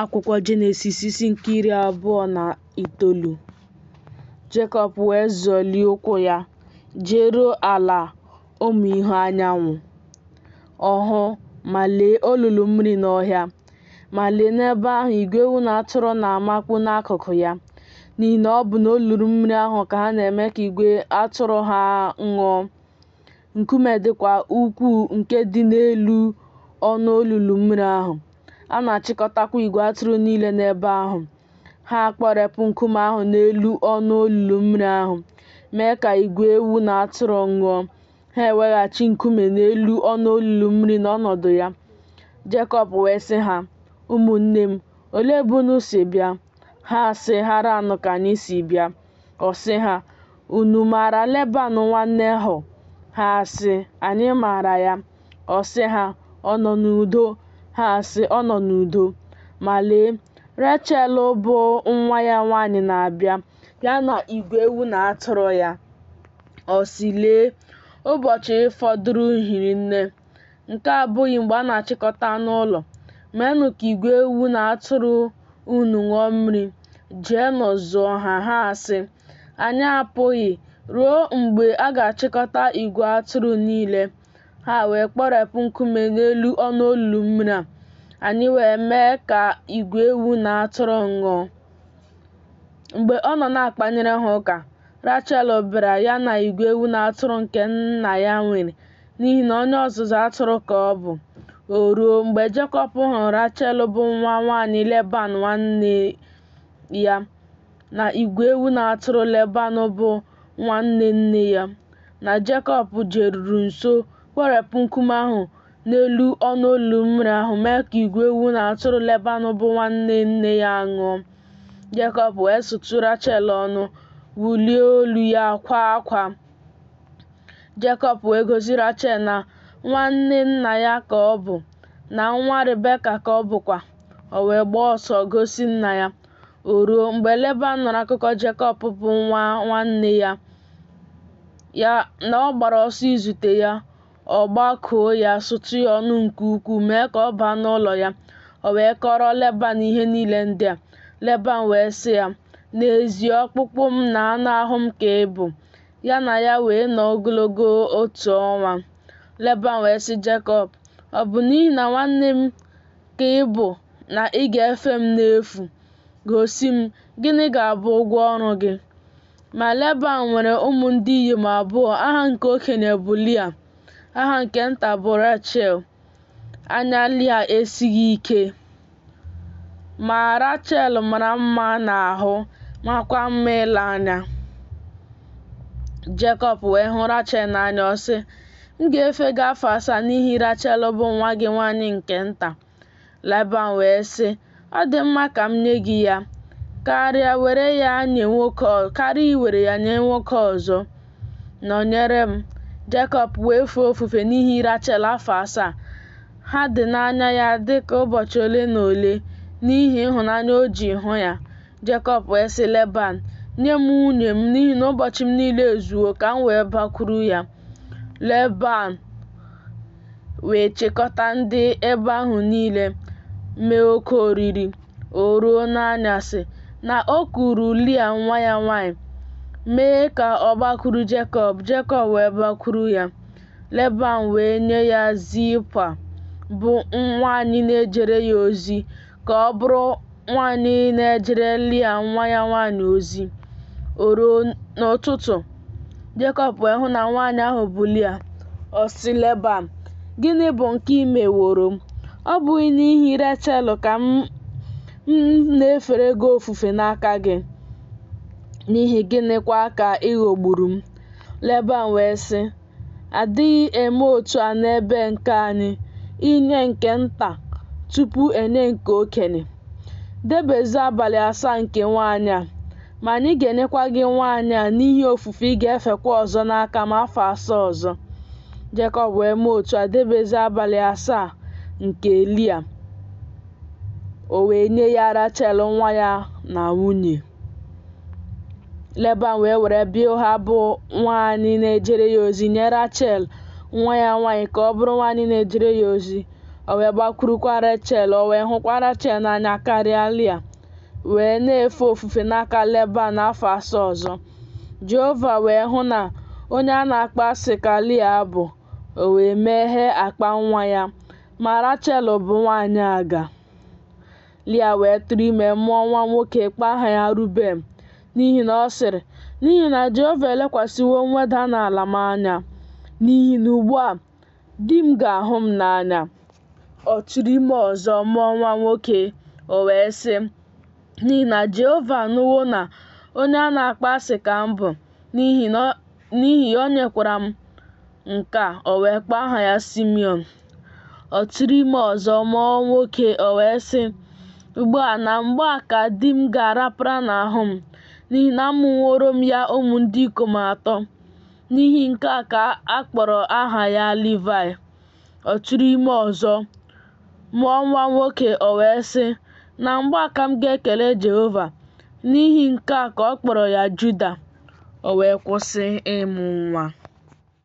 Akwụkwọ Jenesis isi nke iri abụọ na itoolu Jekọb wee zọlie ụkwụ ya jeruo ala ụmụ ihu anyanwụ ọ hụ ma lee olulu mmiri n'ọhịa ma lee n'ebe ahụ igwe ewu na atụrụ na-amakpu n'akụkụ ya n'ihi na ọ bụ n'olulu mmiri ahụ ka ha na-eme ka igwe atụrụ ha ṅụọ nkume dịkwa ukwuu nke dị n'elu ọnụ olulu mmiri ahụ A na-achịkọtakwa igwe atụrụ niile n'ebe ahụ. Ha akpọrepụ nkume ahụ n'elu ọnụ olulu mmiri ahụ, mee ka igwe ewu na atụrụ ṅụọ. Ha eweghachi nkume n'elu ọnụ olulu mmiri n'ọnọdụ ya. Jekọb wee sị ha, Ụmụnne m, olee ebe unu si bịa? Ha sị, Haran ka anyị si bịa. Ọ sị ha, Unu maara Leban nwa Nehọ? Ha sị, Anyị maara ya. Ọ sị ha, Ọ nọ n'udo? Ha sị, Ọ nọ n'udo. Ma lee, Rechel bụ nwa ya nwaanyị na-abịa, ya na igwe ewu na atụrụ ya. Ọ sị, Lee, ụbọchị fọdụrụ hiri nne. Nke a abụghị mgbe a na-achịkọta anụ ụlọ. Meenụ ka igwe ewu na atụrụ unu ṅụọ mmiri, jeenụ zụọ ha. Ha sị, Anyị apụghị ruo mgbe a ga-achịkọta igwe atụrụ niile. Ha wee kpọrepụ nkume n'elu ọnụ olulu mmiri a. Anyị wee mee ka igwe ewu na atụrụ ṅụọ. Mgbe ọ nọ na-akpanyere ha ụka, Rachel bịara ya na igwe ewu na atụrụ nke nna ya nwere, n'ihi na onye ọzụzụ atụrụ ka ọ bụ. O ruo, mgbe Jekọb hụrụ Rachel bụ nwa nwaanyị Leban nwanne ya, na igwe ewu na atụrụ Leban bụ nwanne nne ya, na Jekọb jeruru nso kpọrepụ nkume ahụ n'elu ọnụ olulu mmiri ahụ mee ka igwe ewu na atụrụ Leban bụ nwanne nne ya ṅụọ. Jekọb wee sụtụ Rachel ọnụ, wulie olu ya kwaa akwa. Jekọb wee gosi Rachel na nwanne nna ya ka ọ bụ, na nwa Rebeka ka ọ bụkwa. O wee gbaa ọsọ gosi nna ya. O ruo, mgbe Leban nụrụ akụkọ Jekọb bụ nwa nwanne ya, na ọ gbara ọsọ izute ya, ọ gbakụọ ya sụtụ ya ọnụ nke ukwuu mee ka ọ baa n'ụlọ ya o wee kọrọ leban ihe niile ndị a leban wee sị ya n'ezie ọkpụkpụ m na anụ ahụ m ka ị bụ ya na ya wee nọ ogologo otu ọnwa leban wee sị jekọb ọ bụ n'ihi na nwanne m ka ị bụ na ị ga-efe m n'efu gosi m gịnị ga-abụ ụgwọ ọrụ gị Ma Leban nwere ụmụ ndị inyom abụọ, aha nke okenye bụ Lia, aha nke nta bụ Rachel. Anya Lia esighị ike, ma Rachel mara mma n'ahụ makwa mma ile anya. Jekọb wee hụ Rachel n'anya ọ sị, M ga-efe gị afọ asaa n'ihi Rachel bụ nwa gị nwaanyị nke nta. Leban wee sị, Ọ dị mma ka m nye gị ya karịa iwere ya nye karịa iwere ya nye nwoke ọzọ. Nọnyere m. Jekọb wee fee ofufe n'ihi Rachel afọ asaa. Ha dị n'anya ya dị ka ụbọchị ole na ole n'ihi ịhụnanya o ji hụ ya. Jekọb wee sị Leban, Nye m nwunye m n'ihi na ụbọchị m niile ezuwo ka m wee bakwuru ya. Leban wee chịkọta ndị ebe ahụ niile mee oke oriri o ruo n'anyasị, na o kuuru Lia nwa ya nwanyị, mee ka ọ gbakwuru Jekọb, Jekọb wee bakwuru ya. Leban wee nye ya Zilpa, bụ nwanyị na-ejere ya ozi, ka ọ bụrụ nwaanyị na-ejere Lia nwa ya nwaanyị ozi. O ruo n'ụtụtụ, Jekọb wee hụ na nwaanyị ahụ bụ Lia. Ọ sị Leban, Gịnị bụ nke i meworo m? Ọ bụghị n'ihi Rechel ka m na-efere gị ofufe n'aka gị? N'ihi gịnịkwa ka ị ghọgburu m? Leban wee sị, Adịghị eme otu a n'ebe nke anyị, inye nke nta tupu enye nke okenye. Debezu abalị asaa nke nwaanyị a, ma anyị ga-enyekwa gị nwaanyị a n'ihi ofufe ị ga-efekwa ọzọ n'aka m afọ asaa ọzọ. Jekọb wee mee otu a debezu abalị asaa nke Lia. o wee nye ya Rachel nwa ya na nwunye. Leban wee were Bilha bụ nwaanyị na-ejere ya ozi nye Rachel nwa ya nwaanyị ka ọ bụrụ nwaanyị na-ejere ya ozi. O wee gbakwurukwa Rachel, o wee hụkwa Rachel n'anya karịa Lia, wee na-efe ofufe n'aka Leban afọ asaa ọzọ. Jehova wee hụ na onye a na-akpọ asị ka Lia bụ, o wee meghee akpa nwa ya. Ma Rachel bụ nwaanyị aga. Lia wee tụrụ ime mụọ nwa nwoke kpọọ aha ya Ruben n'ihi na ọ sịrị, N'ihi na Jehova elekwasịwo mweda n'ala m anya, n'ihi na ugbu a di m ga-ahụ m n'anya. Ọ tụrụ ime ọzọ mụọ nwa nwoke, o wee sị, N'ihi na Jehova anụwo na onye a na-akpọ asị ka m bụ, n'ihi na N'ihi ya, o nyekwara m nke a, o wee kpọọ aha ya Simeon. Ọ tụrụ ime ọzọ, mụọ nwoke, o wee sị, Ugbu a na mgbe a ka di m ga-arapara n'ahụ m, n'ihi na amụworo m ya ụmụ ndị ikom atọ. N'ihi nke a ka a kpọrọ aha ya Livaị. ọ tụrụ ime ọzọ, mụọ nwa nwoke, o wee sị, Na mgbe a ka m ga-ekele Jehova. N'ihi nke a ka ọ kpọrọ ya Juda, o wee kwụsị ịmụ nwa.